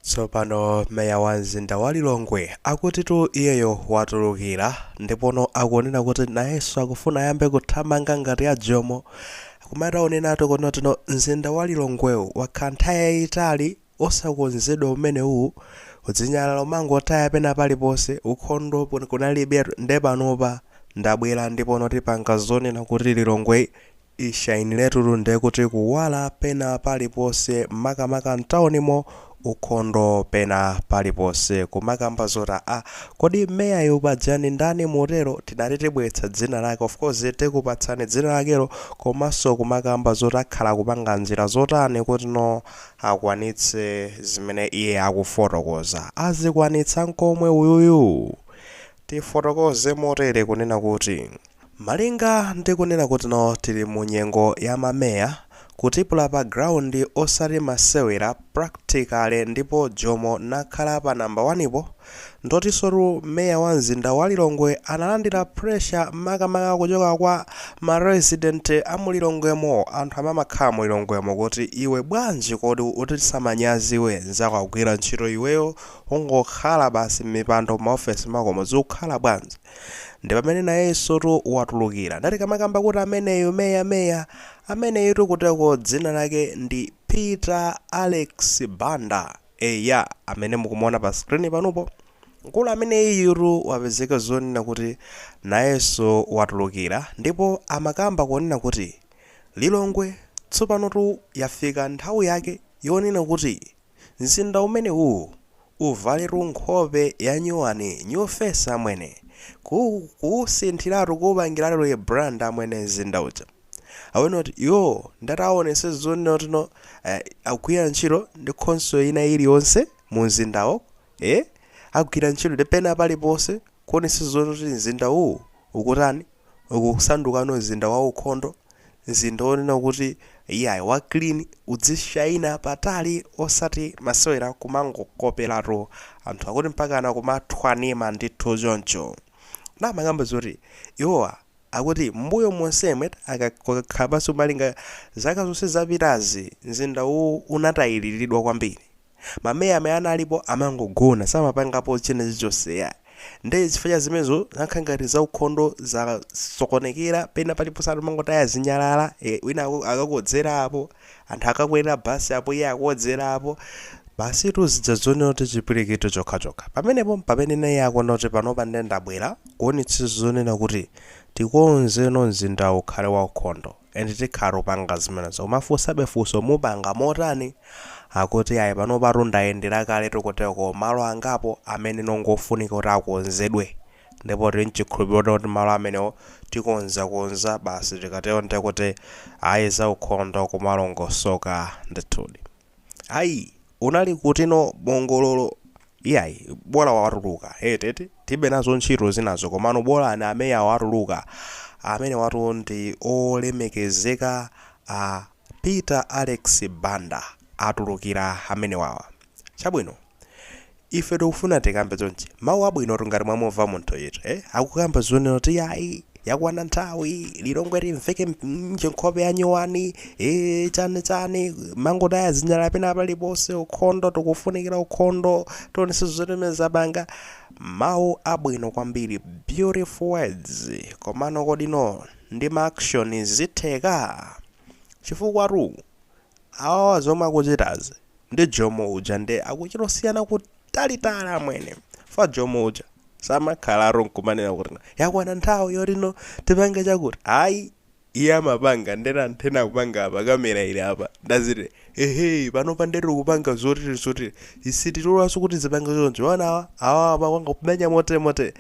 Tsopano meya wa mzinda wa Lilongwe akutitu iyeyo watulukira ndipono akunena kuti nayenso akufuna ayambe kuthamanga ngati ya Jomo koma ataonenatu kunotino mzinda wa Lilongwewu wakhala nthawi yayitali osakonzedwa umenewu kudzinyalala umangotaya pena paliponse ukhondo pon- kunalibe nde panopa ndabwera ndipono tipanga zoona kuti Lilongwe Ishainiletu ndekuti kuwala pena paliponse makamaka mtaunimo ukhondo pena paliponse kumakamba zoti aa kodi meyayu paja ndi ndani motero tinati tibweretsa dzina lake of course tikupatsani dzina lakelo komanso kumakamba zoti akhala akupanga njira zotani kutino akwanitse zimene iye akufotokoza azikwanitsa nkomwe uyuyu? Tifotokoze motere kunena kuti, Malinga ndi kunena kutino tili mu nyengo ya mameya, kutipula pa ground osati masewera practically ndipo Jomo nakhala pa namba 1 po, ndotisotu meya wa mzinda wa Lilongwe analandira pressure makamaka kuchoka kwa ma resident a mu Lilongwemo, anthu amakhala mu Lilongwemo kuti iwe bwanji kodi utichitsa manyazi iwe nzako akugwira ntchito iweyo Ungokhala basi mmipando mma office mmakomo zikukhala bwanji? Ndipamene nayenso tu watulukira. Nde tikamakamba kuti ameneyu meya meya, ameneyutu kuteko dzina lake ndi Peter Alex Banda. Eya amene mukumuona pa screen panupo. Mkulu ameneyiyutu wapezeka zonena kuti nayenso watulukira ndipo amakamba kunena kuti Lilongwe tsopanotu yafika nthawi yake yonena kuti Mzinda umenewu uvaletu nkhope yanyuwani new face amwene ku kuusinthiratu kuupangiratu rebrand amwene mzinda uja awone kuti iwo ndati aonese zonena kutino agwira ntchito ndi khonsolo ina iliyonse mumzindawo ee agwira ntchito ndi pena paliponse Kuonesa zoti mzinda uwu ukutani? Ukusandukano mzinda waukhondo, mzinda wonena kuti, Iyayi, wa clean, udzishaina patali, osati masewera, kumangokoperatu anthu akuti mpakana kumathwanima ndithu choncho. Ndiye amakamba zoti iwowa akuti m'mbuyo monsemu akakhala pansi kumalinga zaka zonse zapitazi, mzinda uwu unatayiliridwa kwambiri. mameya amene analipo amangogona samapangapo china chilichonse yayi nde chifukwa cha zimenezo zakhala ngati zaukhondo zasokonekera pena paliponse anthu amangotaya zinyalala eh, wina aku- akakodzera apo anthu akakwera basi apo iye akodzera apo basitu zija zonena kuti chipwirikiti chokhachokha pamenepo mpamene naye akuona kuti panopa nde ndabwera kuonetsetsa zonena kuti tikonzeno mzindawu ukhale waukhondo and tikhala tikupanga zimenezo kumafunsabe funso mupanga motani akuti ayi panopa tu ndayendera kale tikuteko, malo angapo amene ndi ongofunika kuti akonzedwe ndipo tili nchikhulupiro kuti kuti malo amenewo tikonza konza basi tikatero ndekuti ayi zaukhondo kumalongosoka ndithudi Ayi, unali kutino bongololo? Iyayi, bola watuluka, eti, eti? Tilibe nazo ntchito zinazo, komano bolani ameya watuluka. Amenewatu ndi olemekezeka a Peter Alex Banda atulukira amenewawa. Chabwino, Ife tikufuna tikambe chonchi. Mawu abwinotu ngati mwamumva munthuyitu, eh, akukamba zonena kuti yayi, yakwana nthawi, Lilongwe limveke nje nkhope ya nyowani, eh, chani chani, mangotaya zinyalala pena paliponse, ukhondo, tikufunikira ukhondo, tionetsetse zotere zapanga. Mawu abwino kwambiri, beautiful words. Komano kodino ndi ma action zitheka? Chifukwatu Awawa zomwe akuchitazi ndi Jomo uja nde akuchita kusiyana kutalitali amwene. Fa Jomo uja samakhalatu nkumanena kuti no yakwana nthawi yoti no tipange chakuti ayi iye amapanga ndithu anthu ena akupanga apa kamera ili apa nde aziti ehe panopa nde tikupanga zotili zotili isi titulanso kuti zipange choncho mwaona awa awa apa kwanga kumenya motere motere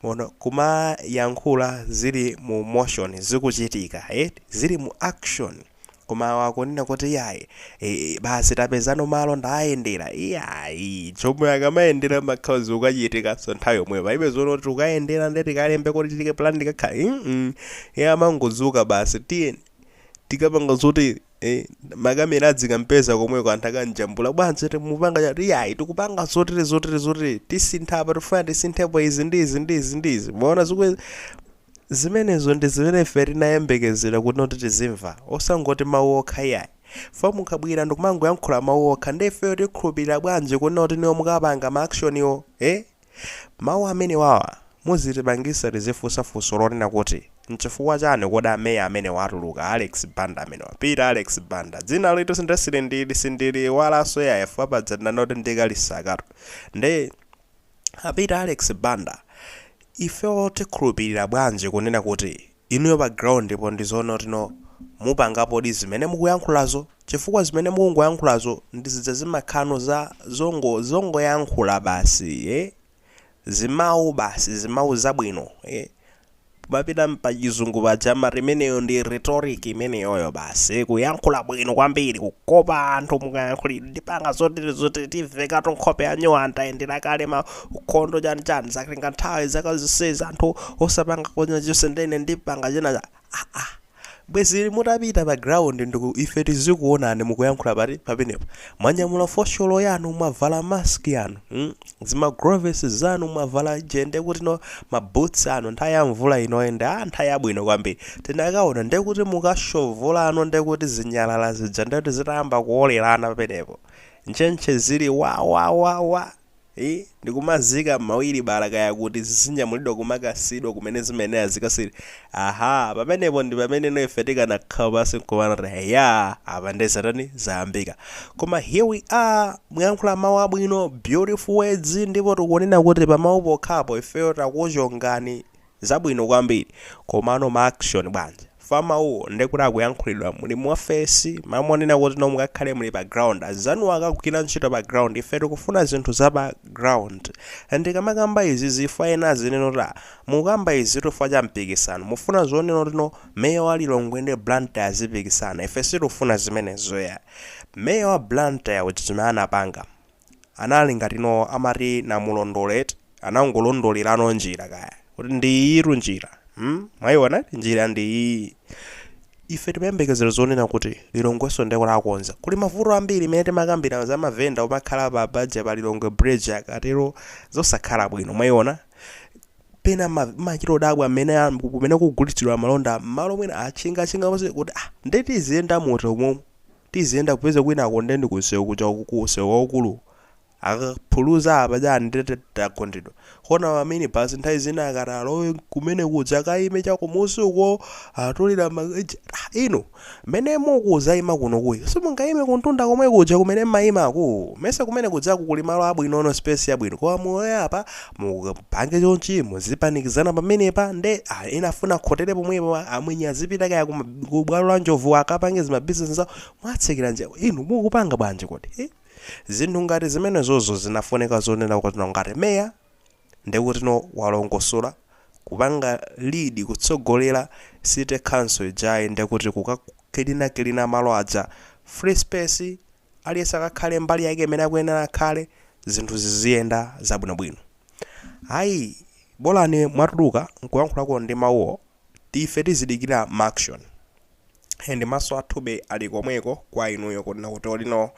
mwaona kumayankhula zili mu motion zikuchitika eh zili mu action koma awa akunena kuti iyayi e, basi tapeza no malo ndayendera iyayi Jomo akamayendera makhala zikuchitikanso nthawi yomweyo palibe zonena kuti tikayendere nde tikalembe kuti titi ka plan tikakhale mm -mm. iye amangodzuka basi tiyeni tikapange zoti eh, makamera adzikampeza komweko anthu akamjambula bwanji mukupanga chani iyayi tikupanga zotili zotili zotili tisintha apa tifuna tisinthepo izi ndi izi ndi izi ndi izi mwaona zikwe Zimenezo ndi zimene ife tinayembekezera kunena kuti tizimva, osangoti mawu okha iyayi. Chifukwa mukabwera ndikumangoyankhula mawu okha, nde ifeyo tikhulupirira bwanji kunena kuti inuyo mukapanga ma action'wo? Eh? Mawu amenewawa muzitipangisa tizifunsa funso lonena kuti, nchifukwa chani kodi a Mayor amenewa atuluka, a Alex Banda amenewa, Peter Alex Banda, dzinalitu nde silindili, sindiliiwalanso iyayi chifukwa paja tinkanena kuti ndi Kalisakatu, nde. A Peter Alex Banda, ifeyo tikhulupilira bwanji kunena kuti inuyo pa ground po ndi zoona kuti no mupangapodi zimene mukuyankhulazo? Chifukwa zimene mukungoyankhulazo ndi zija zimakhala no za zongo zongoyankhula basi eh, zimawu basi, zimawu zabwino eh. Tikamapita mpachizungu paja amati imeneyo ndi rhetoric imeneyoyo basi kuyankhula bwino kwambiri kukopa anthu mukayankhulidwe ndipanga zotili zotili tivekatu nkhope ya nyowani tayendera kale ma ukhondo chani chani zatenga nthawi zaka zonsezi anthu osapanga chilichonse nde ine ndipanga china chake aa Bwezi mutapita pa ground ndikuti ife tizikuonani mukuyankhula pati pamenepo. Mwanyamula fosholo yanu mwavala mask yanu mm? zimagloves zanu mwavala je ndekutino ma boots anu nthawi ya mvula inoyi nde nthawi yabwino kwambiri. Tikanaona ndekuti mukashovolano ndekuti zinyalala zija ndekuti zitayamba kuolerana pamenepo. Ntchentche zili wa wa wa wa. ii, Ndikumaziika mmawilibala kaya kuti zizinyamulidwa kumakasiyidwa kumene zimayenera zikasiyidwe, aha, pamenepo ndi pameneno ife tikanakhala pansi nkumanena kuti eyaa apa nde zatani zayambika koma here we are mwayankhula mau abwino beautiful words ndipo tikunena kuti pamau pokhapo ifeyo takuchongani Zabwino kwambiri komano ma action bwanji? Fa mawuwo nde kuti akuyankhulidwa muli mu office? Malo monena kuti no mukakhale muli pa ground anzanuwo akagwira ntchito pa ground ife tikufuna zinthu za pa ground. Ndikamakamba izizi if ena azinena kuti ah mukukamba izitu chifukwa cha mpikisano. Mufuna zonena kuti no mayor wa Lilongwe ndi Blantyre azipikisana? Ife sitikufuna zimenezo yayi. Mayor wa Blantyre uja zimene anapanga. Anali ngati no amati namulondola eti anangolondolerano njira kaya kuti ndi iyitu njira hmm mwayiona eti njira ndi iyi ife timayembekezera zonena kuti Lilongweso nde kuti akonza kuli mavuto ambiri amene timakambirana za mavenda omakhala pa paja pa Lilongwe bridge akatero zosakhala bwino mwayiona pena ma- machita odabwa mmene a- kumene kugulitsidwa malonda malo mwina atchingatchinga kuti ah nde tiziyenda muti umomo Tiziyenda kupeza kwinako nde ndikunsewu kuja uku ku nsewu waukulu akaphuluza apa chani ndekuti tagundidwa koma a minibus nthawi zina akati alowe kumene kuja akaime cha kumusi uko atulira inu mene mukuzaima kunukuyi simungaime kuntunda komwe kuja kumene mmaimako mesa kumene kujaku kuli malo abwinono space yabwino koma mulowe apa mupange chonchi muzipanikizana pamenepa nde ah, ena afuna akhotere pomwepo ah, amwenye azipita kaya kuma- ku bwalo la njovu akapange zimabizinesi zawo mwatsekeranji inu mukupanga bwanji kodi eh? zinthu ngati zimenezozo zinafunika zonena kutino ngati meya ndekuti no walongosola kupanga lead kutsogolera city council ijayi ndekuti kukakilinakilina malo aja free space Aliyense akakhale mbali yake imene akuyenera akhale, zinthu ziziyenda zabwinobwino. Ayi, bolani mwatuluka nkuyankhulako ndi mawuwo, ife tizidikira ma action. And maso athuwa ali komweko kwa inuyo kunena kuti kodino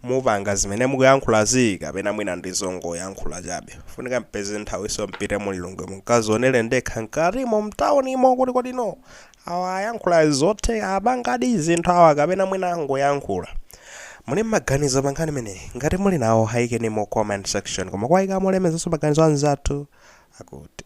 mupanga zimene mukuyankhulazi kapena mwina ndi zongoyankhula chabe. Funika mpeze nthawiso mpite mu Lilongwe mukazionere nokha mkatimo mtaunimo kuti kodi no Awa ayankhula zotheka apangadi zinthu awa kapena mwina angoyankhula? Muli nmaganizo pa nkhani imeneyi? Ngati muli nawo ayikeni mu comment section koma kuwayika molemezaso maganizo anzathu akuti.